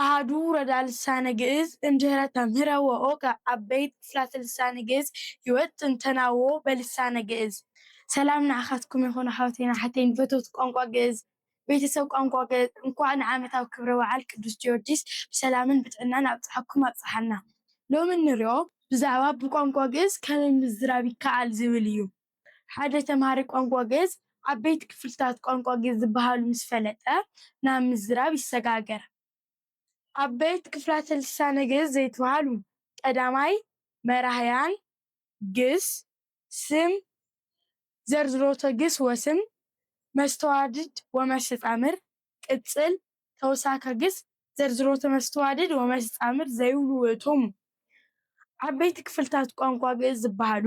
ኣሃዱ ረዳ ልሳነ ግእዝ እምድኅረ ተምህረ ወኦቀ ዓበይት ክፍላተ ልሳነ ግእዝ ሕይወት ጥንተናዎ በልሳነ ግእዝ። ሰላም ንዓኻትኩም ይኹን ኣሕዋተይን ኣሓተይን ፈተውቲ ቋንቋ ግእዝ፣ ቤተሰብ ቋንቋ ግእዝ፣ እንኳዕ ንዓመታዊ ክብረ በዓል ቅዱስ ጊዮርጊስ ብሰላምን ብጥዕናን ኣብጽሓኩም ኣብጽሓና። ሎሚ እንሪኦ ብዛዕባ ብቋንቋ ግእዝ ከመይ ምዝራብ ይከኣል ዝብል እዩ። ሓደ ተምሃራይ ቋንቋ ግእዝ ዓበይቲ ክፍልታት ቋንቋ ግእዝ ዝበሃሉ ምስ ፈለጠ ናብ ምዝራብ ይሰጋገር። ዓበይቲ ክፍላተ ልሳነ ግእዝ ዘይትበሃሉ፣ ቀዳማይ፣ መራሕያን፣ ግስ፣ ስም፣ ዘርዝሮተ ግስ ወስም፣ መስተዋድድ ወመስተጻምር፣ ቅጽል፣ ተውሳከ ግስ፣ ዘርዝሮተ መስተዋድድ ወመስተጻምር ዘይብሉ ውእቶሙ። ዓበይቲ ክፍልታት ቋንቋ ግእዝ ዝበሃሉ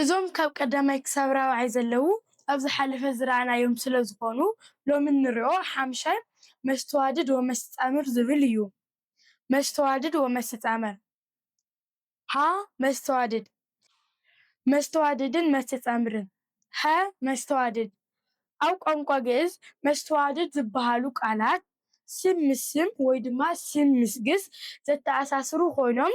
እዞም ካብ ቀዳማይ ክሳብ ራብዓይ ዘለዉ ኣብ ዝሓለፈ ዝረኣናዮም ስለ ዝኾኑ ሎሚ እንሪኦ ሓምሻይ መስተዋድድ ወመስተጻምር ዝብል እዩ። መስተዋድድ ወመስተጻምር፣ ሀ መስተዋድድ፣ መስተዋድድን መስተጻምርን፣ ሀ መስተዋድድ፣ ኣብ ቋንቋ ግእዝ መስተዋድድ ዝበሃሉ ቃላት ስም ምስ ስም ወይ ድማ ስም ምስ ግስ ዘተኣሳስሩ ኮይኖም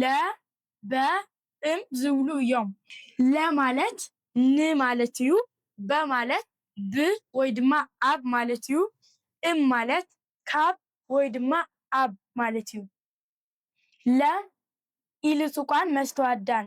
ለ፣ በ፣ እም ዝብሉ እዮም። ለ ማለት ን ማለት እዩ። በ ማለት ብ ወይ ድማ ኣብ ማለት እዩ። እም ማለት ካብ ወይ ድማ ኣብ ማለት እዩ። ለ ኢሉ ጹቋን መስተዋዳን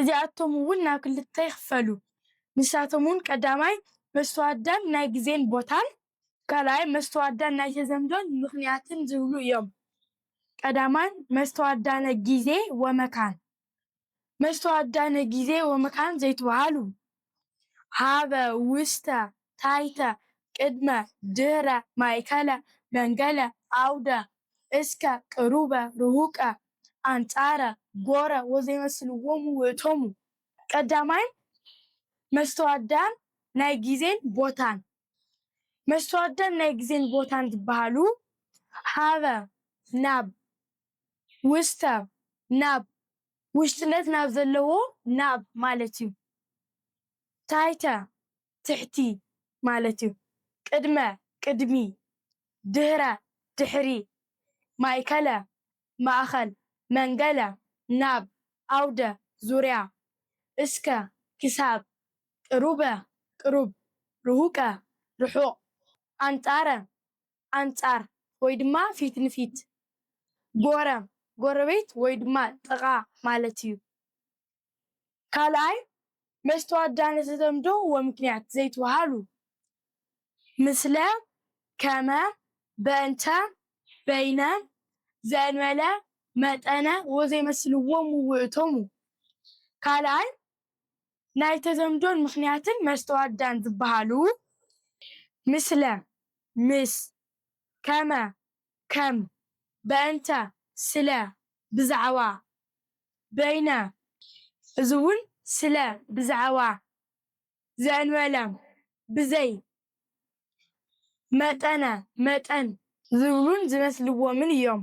እዚኣቶም እውን ናብ ክልተ ይኽፈሉ። ንሳቶም እውን ቀዳማይ መስተዋድዳን ናይ ግዜን ቦታን፣ ካልኣይ መስተዋድዳን ናይ ተዘምዶን ምኽንያትን ዝብሉ እዮም። ቀዳማይ መስተዋድዳነ ጊዜ ወመካን። መስተዋድዳነ ጊዜ ወመካን ዘይትበሃሉ ሃበ ውስተ ታሕተ ቅድመ ድህረ ማእከለ መንገለ ዓውደ እስከ ቅሩበ ርሁቀ ኣንጻረ ጎረ ወዘይመስልዎሙ ውእቶሙ ቀዳማይ መስተዋድዳን ናይ ግዜን ቦታን መስተዋድዳን ናይ ግዜን ቦታን ዝበሃሉ ሃበ ናብ ውስተ ናብ ውሽጥነት ናብ ዘለዎ ናብ ማለት እዩ። ታሕተ፣ ትሕቲ ማለት እዩ። ቅድመ፣ ቅድሚ። ድህረ፣ ድሕሪ። ማእከለ፣ ማእኸል። መንገለ፣ ናብ። ኣውደ፣ ዙርያ። እስከ፣ ክሳብ። ቅሩበ፣ ቅሩብ። ርሁቀ፣ ርሑቕ። ኣንጻረ፣ ኣንጻር ወይ ድማ ፊት ንፊት። ጎረም፣ ጎረቤት ወይ ድማ ጥቓ ማለት እዩ። ካልኣይ፣ መስተዋድዳ ንተተምዶ ወምክንያት ዘይትበሃሉ፣ ምስለ፣ ከመ፣ በእንተ፣ በይነ፣ ዘእንበለ፣ መጠነ ወዘይመስልዎሙ ውእቶሙ። ካልኣይ፣ ናይ ተዘምዶን ምኽንያትን መስተዋድዳን ዝበሃሉ ምስለ፣ ምስ፣ ከመ፣ ከም፣ በእንተ፣ ስለ፣ ብዛዕባ፣ በይነ፣ እዚ'ውን ስለ፣ ብዛዕባ፣ ዘእንበለ፣ ብዘይ፣ መጠነ፣ መጠን፣ ዝብሉን ዝመስልዎምን እዮም።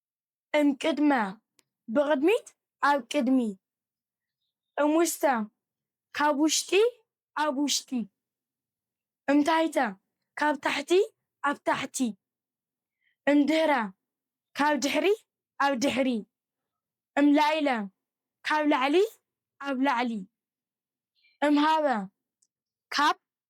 እምቅድመ ብቕድሚት ኣብ ቅድሚ እምውስተ ካብ ውሽጢ ኣብ ውሽጢ እምታሕተ ካብ ታሕቲ ኣብ ታሕቲ እምድህረ ካብ ድሕሪ ኣብ ድሕሪ እምላኢለ ካብ ላዕሊ ኣብ ላዕሊ እምሃበ ካብ